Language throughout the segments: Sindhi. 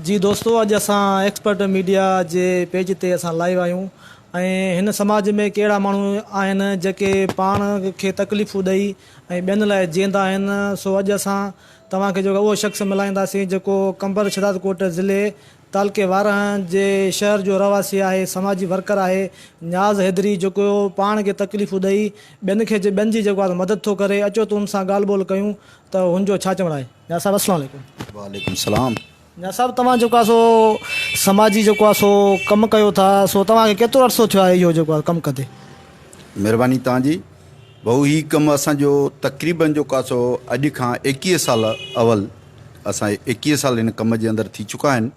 جي دوستو اڄ اسان ايڪسپرٽ ميڊيا جي پيج تي اسان لائيو آهيون ۽ هن سماج ۾ ڪي اهڙا ماڻهو آهن جيڪي پاڻ کي تڪليفون ڏئي ۽ ٻين لاء جيئندا آهن سو اڄ اسان توهان کي جيڪو اهو شخص ملائينداسين جيڪو قمبر شهدادڪوٽ ضلعي تعلقي وارهن جي شهر جو رهواسي آهي سماجي ورڪر آهي نياز حيدري جيڪو پاڻ کي تڪليفون ڏئي ٻين کي ٻين جي جيڪو آهي مدد ٿو ڪري اچو تون سان ڳالهه ٻولهه ڪيون ته هن جو ڇا چوڻ آهي نياز صاحب السلام عليڪم. وعليڪم سلام. نياز صاحب توهان جيڪو آهي سو سماجي جيڪو آهي سو ڪم ڪيو ٿا سو توهان کي ڪيترو عرصو ٿيو آهي اهو جيڪو آهي ڪم ڪندي. مهرباني توهان جي. ڀؤ هي ڪم اسان جو تقريبن جو ڪاسو اڄ کان ايڪيهه سال اول اسان کي ايڪيهه سال هن ڪم جي اندر ٿي چڪا آهن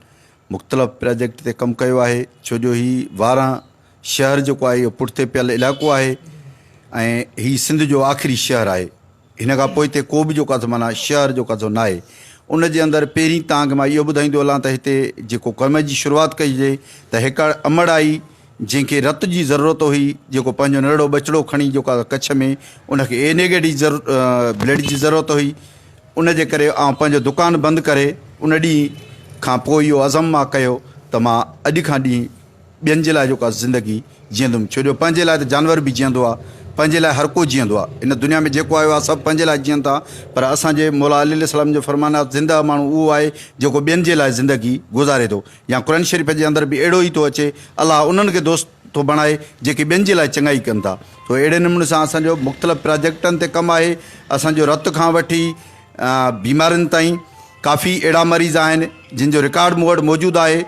مختلف پراجيڪٽ تي ڪم ڪيو آهي ڇو جو هي واران شهر جيڪو آهي اهو پٺتي پيل علائقو آهي ۽ هي سنڌ جو آخري شهر آهي هن کان پوء هتي ڪو به جو ڪاسو معنيٰ شهر جو ڪاسو نه آهي ان جي اندر پهرين توهان کي مان اهو ٻڌائيندو هلان ته هتي جيڪو ڪم جي شروعات ڪئي جي ته هڪڙ امڙ آئي جنهن کي رت جي ضرورت هئي جيڪو پنهنجو نرڙو ٻچڙو کڻي جيڪو آيو ڪڇ ۾ ان کي اي نيگيٽو ضرور بلڊ جي ضرورت هئي ان جي ڪري آئون پنهنجو دڪان بند ڪري ان ڏينهن کان پوء اهو عزم مان ڪيو ته مان اڄ کان ڏينهن ٻين جي لاء جيڪو آ زندگي جيئندم ڇو جو پنهنجي لاء ته جانور به جيئندو آ پنهنجي لاء هر ڪو جيئندو آ ان دنيا ۾ جيڪو آيو آ سڀ پنهنجي لاء جيئن ٿا پر اسان جي مولا علي عليه السلام جو فرمان آ زنده ماڻهو اهو آهي جيڪو ٻين جي لاء زندگي گذاري ٿو يا قرآن شريف جي اندر به اهڙو ئي ٿو اچي، الله انهن کي دوست ٿو بڻائي جيڪي ٻين جي لاء چڱائي ڪن ٿا. سو اهڙي نموني سان اسان جو مختلف پراجيڪٽن تي ڪم آهي. اسان جو رت کان وٺي بيمارين تائين ڪافي اهڙا مريض آهن جن جو رڪارڊ مون وٽ موجود آهي.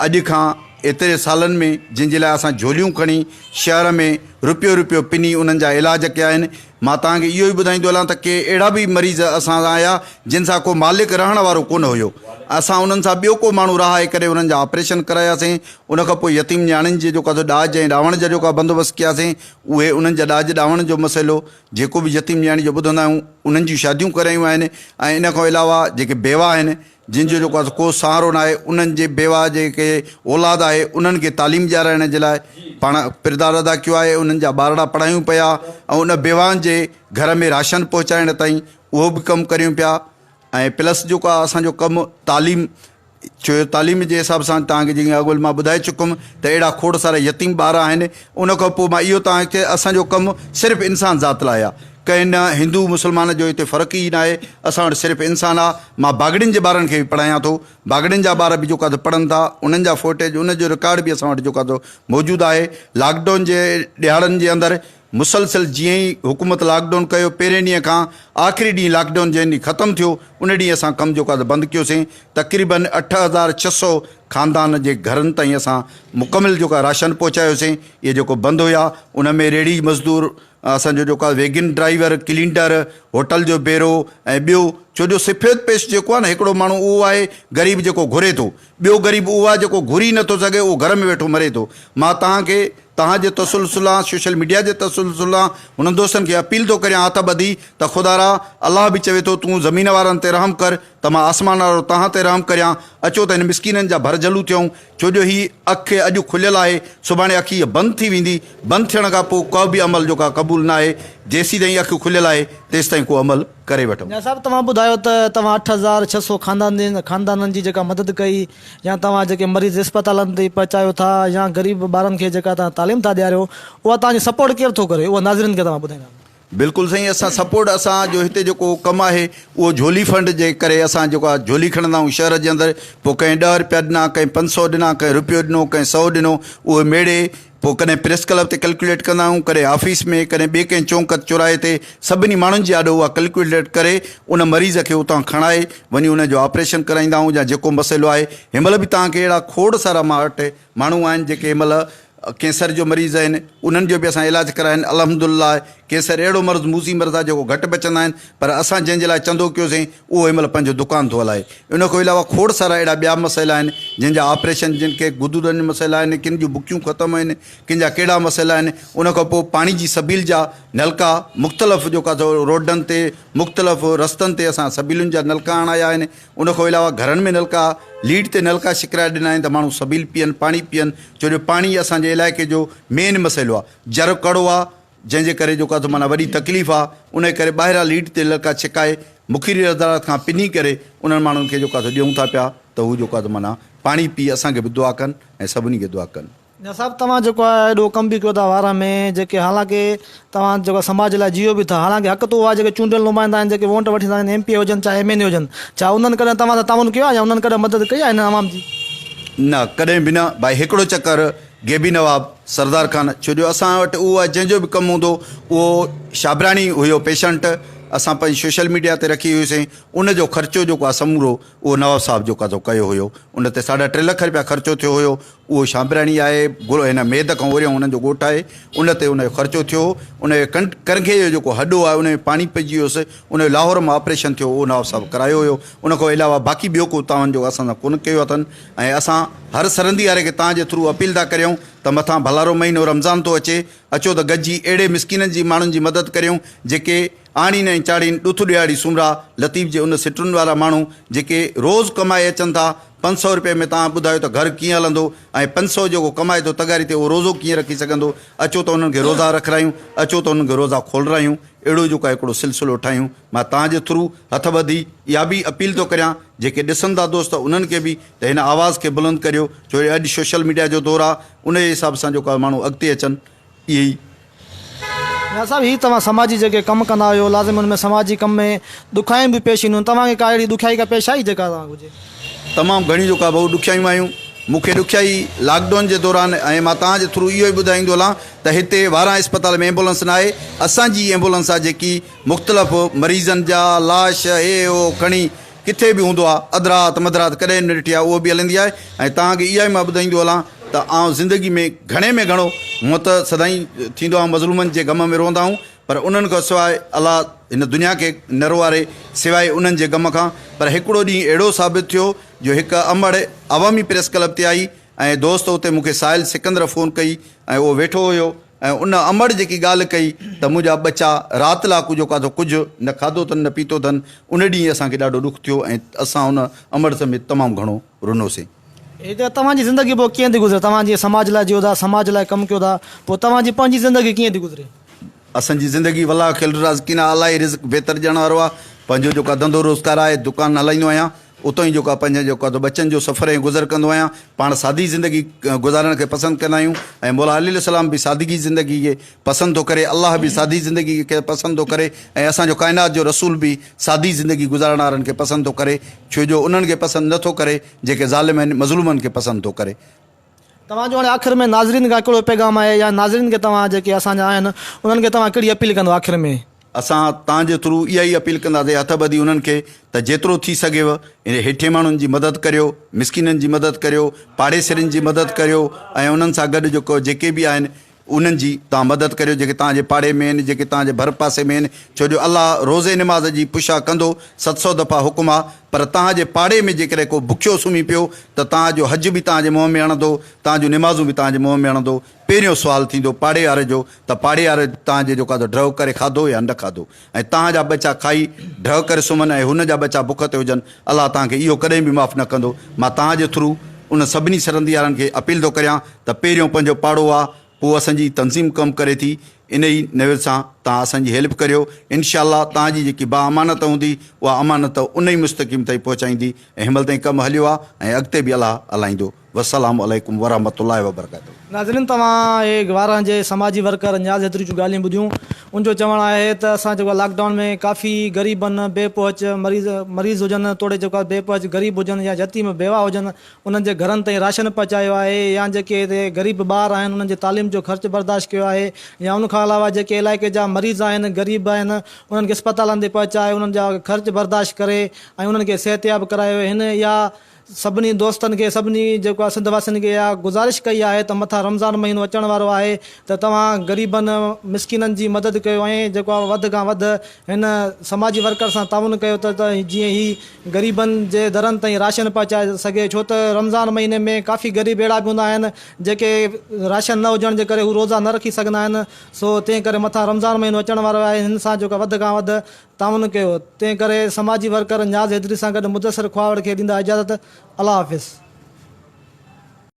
اڄ کان ايتري سالن ۾ جن جي لاء اسان جهوليون کڻي شهر ۾ رپيو رپيو پني انهن جا علاج ڪيا آهن. مان توهان کي اهو ئي ٻڌائيندو هلان ته ڪي اهڙا به مريض اسان سان آيا جن سان ڪو مالڪ رهڻ وارو ڪونه هيو. اسان انهن سان ٻيو ڪو ماڻهو رهائي ڪري انهن جا آپريشن ڪراياسين. ان کان پوء يتيم نياڻين جي جيڪو ڪا ڏاج ۽ ڏاوڻ جا جيڪا بندوبست ڪياسين اهي انهن جا ڏاج ڏاوڻ جو مسئلو جيڪو به يتيم نياڻي جو ٻڌندا آهيون انهن جون شاديون ڪرايون آهن ۽ ان کان علاوه جيڪي بيوا آهن جن جو جيڪو آهي ڪو سهارو ناهي انهن جي بيواهه جيڪي اولاد آهي انهن کي تعليم ڏيارائڻ جي لاء پاڻ ڪردار ادا ڪيو آهي انهن جا ٻارڙا پڙهايون پيا ۽ ان بيواهن جي گهر ۾ راشن پهچائڻ تائين اهو به ڪم ڪريون پيا ۽ پلس جيڪو آهي اسان جو ڪم تعليم ڇو جو تعليم جي حساب سان توهان کي جيئن اڳول مان ٻڌائي چڪ هيم ته اهڙا کوڙ سارا يتيم ٻار آهن ان کان پوء مان اهو توهان کي اسان جو ڪم صرف انسان ذات لاء آهي ڪنهن نه هندو مسلمان جو هتي فرق ئي ناهي، اسان وٽ صرف انسان آ، مان باگڙين جي ٻارن کي به پڙهايان ٿو، باگڙين جا ٻار به جيڪو ته پڙهن ٿا انهن جا فوٽيج ان جو رڪارڊ به اسان وٽ جيڪو ته موجود آهي، لاڪ ڊائون جي ڏهاڙن جي اندر مسلسل جيئن ئي حڪومت لاڪ ڊائون ڪيو پهرين ڏينهن کان آخري ڏينهن لاڪ ڊائون جنهن ڏينهن ختم ٿيو ان ڏينهن اسان ڪم جيڪو ته بند ڪيوسين تقريبن اٺ هزار ڇهه سئو خاندان جي گهرن تائين اسان مڪمل جيڪو راشن پهچايوسين اهي جيڪو بند هيا ان ۾ ريڙهي مزدور اسان جو جيڪو ويگن ڊرائيور، ڪلينڊر، هوٽل جو بيرو ۽ ٻيو ڇو جو سفيد پيش جيڪو آهي نه هڪڙو ماڻهو اهو آهي غريب جيڪو گهري ٿو، ٻيو غريب اهو آهي جيڪو گهري ئي نٿو سگهي اهو گهر ۾ ويٺو مري ٿو. مان توهان کي توهان جي تسلسل آن سوشل ميڊيا جي تسلسل آن انهن دوستن کي اپيل ٿو ڪريان هٿ ٻڌي ته خدا را الله به چوي ٿو تون زمين وارن تي رحم ڪر ته مان آسمان وارو توهان تي رحم ڪريان اچو ته هن مسڪينن جا ڀر جهلون ٿيون ڇو جو هي اک اڄ کليل آهي، سڀاڻي اک هيء بند ٿي ويندي، بند ٿيڻ کان پوء ڪو به عمل جو ڪا قبول نه آهي، جيسيتائين اک کليل آهي، تيستائين ڪو عمل ڪري وٺو. ميان صاحب توهان ٻڌايو ته توهان اٺ هزار ڇهه سؤ خاندانين خاندانن جي جيڪا مدد ڪئي يا توهان جيڪي مريض اسپتالن تائين پهچايو ٿا يا غريب ٻارن کي جيڪا توهان تعليم ٿا ڏياريو اها توهان جي سپورٽ ڪير ٿو ڪري اهو ناظرين کي توهان ٻڌائيندا. بلڪل سائين اسان سپورٽ اسان جو هتي جيڪو ڪم آهي اهو جهولي فنڊ جي ڪري اسان جيڪو آهي جهولي کڻندا آهيون شهر جي اندر پوء ڪنهن ڏهه روپيا ڏنا ڪنهن پنج سو ڏنا ڪنهن روپيو ڏنو ڪنهن سو ڏنو اهي ميڙي پوء ڪڏهن پريس ڪلب تي ڪلڪيوليٽ ڪندا آهيون ڪڏهن آفيس ۾ ڪڏهن ٻي ڪنهن چونڪ چوراهي تي سڀني ماڻهن جي آڏو اها ڪلڪيوليٽ ڪري ان مريض کي اتان کڻائي وڃي ان جو آپريشن ڪرائيندا آهيون يا جيڪو مسئلو آهي هن مهل به توهان کي اهڙا کوڙ سارا ماڻهن وٽ ماڻهو آهن جيڪي هن مهل ڪينسر جو مريض آهن انهن جو به اسان علاج ڪراين الحمدلله ڪينسر اهڙو مرض موذي مرض آهي جيڪو گهٽ بچندا آهن پر اسان جنهن جي لاء چندو ڪيو سين اهو هن مهل پنهنجو دڪان ٿو هلائي ان کان علاوه کوڙ سارا اهڙا ٻيا مسئلا آهن جن جا آپريشن جن کي غدودن جا مسئلا آهن ڪن جون بڪيون ختم آهن ڪن جا ڪهڙا مسئلا آهن ان کان پوء پاڻي جي سبيل جا نلڪا مختلف جيڪا روڊن تي مختلف رستن تي اسان سبيلن جا نلڪا هڻايا آهن ان کان علاوه گهرن ۾ نلڪا، ليڊ تي نلڪا شڪرائي ڏنا آهن ته ماڻهو سبيل پيئن، پاڻي پيئن، ڇو جو پاڻي اسان جي علائقي جو مين مسئلو آهي، جر ڪڙو آهي، جنهن جي ڪري جيڪو اٿ معنيٰ وڏي تڪليف آهي، ان کي ڪري ٻاهران ليڊ تي نلڪا ڇڪائي مخيري ردارات کان پني ڪري انهن ماڻهن کي جيڪو اٿ ڏيون ٿا پيا ته هو جيڪو اٿ معنيٰ پاڻي پي اسان کي به دعا ڪن ۽ سڀني کي دعا ڪن. نيا صاحب توهان جيڪو آ ايڏو ڪم به ڪيو ٿا وارهه ۾ جيڪي حالانڪه توهان جيڪو آ سماج جي لاء جيئو به ٿا حالانڪه حق تو آ جيڪي چونڊيل نمائندا آهن جيڪي وونٽ وٺي ٿا ايم پي اي هجن چاهي ايم اين اي هجن ڇا انهن ڪڏهن توهان سان تعاون ڪيو آ يا انهن ڪڏهن مدد ڪئي آ هنن عوام جي. نه ڪڏهن به نه ڀائي هڪڙو چڪر غيبي نواب سردار خان ڇو جو اسان وٽ اهو آ جنهن جو به ڪم هوندو اهو شابراڻي هيو پيشنٽ اسان پنهنجي سوشل ميڊيا تي رکي هيوسين ان جو خرچو جيڪو آ سمورو اهو نواب صاحب جيڪو آ سو ڪيو هيو ان تي ساڍا ٽي لک رپيا خرچو ٿيو هيو اهو شامبراڻي آهي، گهرو هن ميد کان اوريون هن جو ڳوٺ آهي، ان تي ان جو خرچو ٿيو هو، ان جي ڪرنگهي جو جيڪو هڏو آهي، ان ۾ پاڻي پئجي ويو هوس، ان جو لاهور مان آپريشن ٿيو، اهو نواب صاحب ڪرايو هيو، ان کان علاوه باقي ٻيو ڪو تعاون جيڪو اسان سان ڪونه ڪيو اٿن ۽ اسان هر سرندي واري کي توهان جي ٿرو اپيل ٿا ڪريون ته مٿان ڀلارو مهينو رمضان ٿو اچي، اچو ته گڏجي اهڙي مسڪينن جي ماڻهن جي مدد ڪريون، جيڪي. آڻين ۽ چاڙهين ڏٿ ڏيهاڙي سومرا لطيف جي ان سٽرن وارا ماڻهو جيڪي روز ڪمائي اچن ٿا پنج سئو رپئي ۾ توهان ٻڌايو ته گهر ڪيئن هلندو ۽ پنج سئو جيڪو ڪمائي ٿو تغاري تي اهو روزو ڪيئن رکي سگهندو اچو ته انهن کي روزا رکرايون اچو ته انهن کي روزا کولرايون اهڙو جيڪو آهي هڪڙو سلسلو ٺاهيون مان توهان جي ٿرو هٿ ٻڌي اها به اپيل ٿو ڪريان جيڪي ڏسن ٿا دوست انهن کي به ته هن آواز کي بلند ڪريو ڇو جو اڄ سوشل ميڊيا جو دور آهي ان جي حساب سان جيڪو آهي ماڻهو اڳتي اچن اهي ئي. نياز صاحب هي توهان سماجي جيڪي ڪم ڪندا آهيو لازمي ان ۾ سماجي ڪم ۾ ڏکيائيون به پيش اينديون توهان کي ڪا اهڙي ڏکيائي ڪا پيش آئي جيڪا توهان کي هجي. تمام گهڻي جو ڪا ڀئو ڏکيائيون آيون مون کي ڏکيائي لاڪ ڊون جي دوران ۽ مان توهان جي ٿرو اهو ئي ٻڌائيندو هلان ته هتي واران اسپتال ۾ ايمبولنس نه آهي اسان جي ئي ايمبولنس آهي جيڪي مختلف مريضن جا لاش هي هو کڻي ڪٿي به هوندو آ اڌرات مڌرات ڪڏهن نه ڏٺي آ اهو به هلندي آهي ۽ توهان کي اها ئي مان ٻڌائيندو هلان ته آئون زندگي ۾ گهڻي ۾ گهڻو هونء ته سدائين ٿيندو آهيان مظلومن جي غم ۾ روئندا آهيون پر انهن کان سواء الله هن دنيا کي نه روئاري سواء انهن جي غم کان پر هڪڙو ڏينهن اهڙو ثابت ٿيو جو هڪ امڙ عوامي پريس ڪلب تي آئي ۽ دوست اتي مون کي سائل سڪندر فون ڪئي ۽ اهو ويٺو هيو ۽ ان امڙ جيڪي ڳالهه ڪئي ته منهنجا ٻچا رات لاء ڪجهو کاڌو ڪجهه نه کاڌو اٿن نه پيتو اٿن ان ڏينهن اسان کي ڏاڍو ڏک ٿيو ۽ اسان ان امڙ سميت تمام گهڻو رنوسين. هي ته توهان جي زندگي پوء ڪيئن ٿي گذري توهان جيئن سماج لاء جيئو ٿا سماج لاء ڪم ڪيو ٿا پوء توهان جي پنهنجي زندگي ڪيئن ٿي گذري. اسان جي زندگي والله خير الرازقين اعلٰي رزق بهتر ڏيڻ وارو آهي پنهنجو جيڪا ڌنڌو روزگار آهي دڪان هلائيندو آهيان اتو ئي جيڪو آهي پنهنجن جيڪو آهي سو ٻچن جو سفر ۽ گذر ڪندو آهيان. پاڻ سادي زندگي گذارڻ کي پسند ڪندا آهيون ۽ مولا علي عليه السلام به سادگي زندگي کي پسند ٿو ڪري، الله به سادي زندگي کي پسند ٿو ڪري ۽ اسان جو ڪائنات جو رسول به سادي زندگي گذارڻ وارن کي پسند ٿو ڪري ڇو جو انهن کي پسند نه ٿو ڪري جيڪي ظالم آهن، مظلومن کي پسند ٿو ڪري. توهان جو هاڻي آخر ۾ ناظرين کان ڪهڙو پيغام آهي يا ناظرين کي توهان جيڪي اسان جا آهن انهن کي توهان ڪهڙي اپيل ڪندو آخر ۾؟ اسان تان جي ٿرو اها ئي اپيل ڪنداسي هٿ ٻڌي انهن کي ته جيترو ٿي سگهيو اهڙي هيٺين ماڻهن جي مدد ڪريو مسڪينن جي مدد ڪريو پاڙيسرين جي مدد ڪريو ۽ انهن سان گڏ جيڪي به آهن انهن جي توهان مدد ڪريو جيڪي توهان جي پاڙي ۾ آهن، جيڪي توهان جي ڀر پاسي ۾ آهن، ڇو جو الله روزي نماز جي پشا ڪندو، ست سؤ دفعا حڪم آ، پر توهان جي پاڙي ۾ جيڪڏهن ڪو بکيو سمهي پيو ته توهان جو حج به توهان جي منهن ۾ هڻندو، توهان جون نمازون به توهان جي منهن ۾ هڻندو، پهريون سوال ٿيندو پاڙي واري جو ته پاڙي واري توهان جي جيڪو آ سو ڊرئو ڪري کاڌو يا نه کاڌو؟ ۽ توهان جا ٻچا کائي ڍء ڪري سمهن ۽ هن جا ٻچا بک تي هجن، الله توهان کي اهو ڪڏهن به معاف نه ڪندو. مان توهان جي ٿرو انهن سڀني سرنديارن کي اپيل ٿو ڪريان ته پهريون پنهنجو پاڙو آ پوء اسان جي تنظيم ڪم ڪري ٿي انهي نيول سان توهان اسان جي هيلپ ڪريو انشاء الله توهان جي جيڪي با امانت هوندي اها امانت انهي مستقيم تائين پهچائيندي ۽ هنمهل تائين ڪم هليو آ ۽ اڳتي به الله هلائيندو. والسلام عليڪم ورحمة الله وبرڪاته. ناظرين توهان اهي گواران جي سماجي ورڪر نياز حيدري جون ڳالهيون ٻڌيون ان جو چوڻ آهي ته اسان جيڪو آهي لاڪ ڊائون ۾ ڪافي غريبن بي پهچ مريض مريض هجن توڙي جيڪو آهي بي پهچ غريب هجن يا يتيم بيواهه هجن انهن جي گهرن تائين راشن پهچايو آهي يا جيڪي هتي غريب ٻار آهن انهن جي تعليم جو خرچ برداشت ڪيو آهي يا ان کان علاوه جيڪي علائقي جا مريض آهن غريب آهن انهن کي اسپتالن تي پهچائي انهن جا خرچ برداشت ڪري ۽ انهن کي صحتياب ڪرايو هن اها سڀني دوستن کي سڀني جيڪو آ سنڌ واسين کي اها گذارش ڪئي آهي ته مٿان رمضان مهينو اچڻ وارو آهي ته توهان غريبن مسڪينن جي مدد ڪيو ۽ جيڪو آ وڌ کان وڌ هن سماجي ورڪر سان تعاون ڪيو ته جيئن هي غريبن جي درن تائين راشن پهچائي سگهي ڇو ته رمضان مهيني ۾ ڪافي غريب اهڙا به هوندا آهن جيڪي راشن نه هجڻ جي ڪري هو روزا نه رکي سگهندا آهن سو تنهن ڪري مٿان رمضان مهينو اچڻ وارو آهي هن سان جيڪو وڌ کان وڌ تعاون ڪيو تنهن ڪري سماجي ورڪر نياز حيدري سان گڏ مدثر کهاوڙ کي ڏيندا اجازت الله حافظ.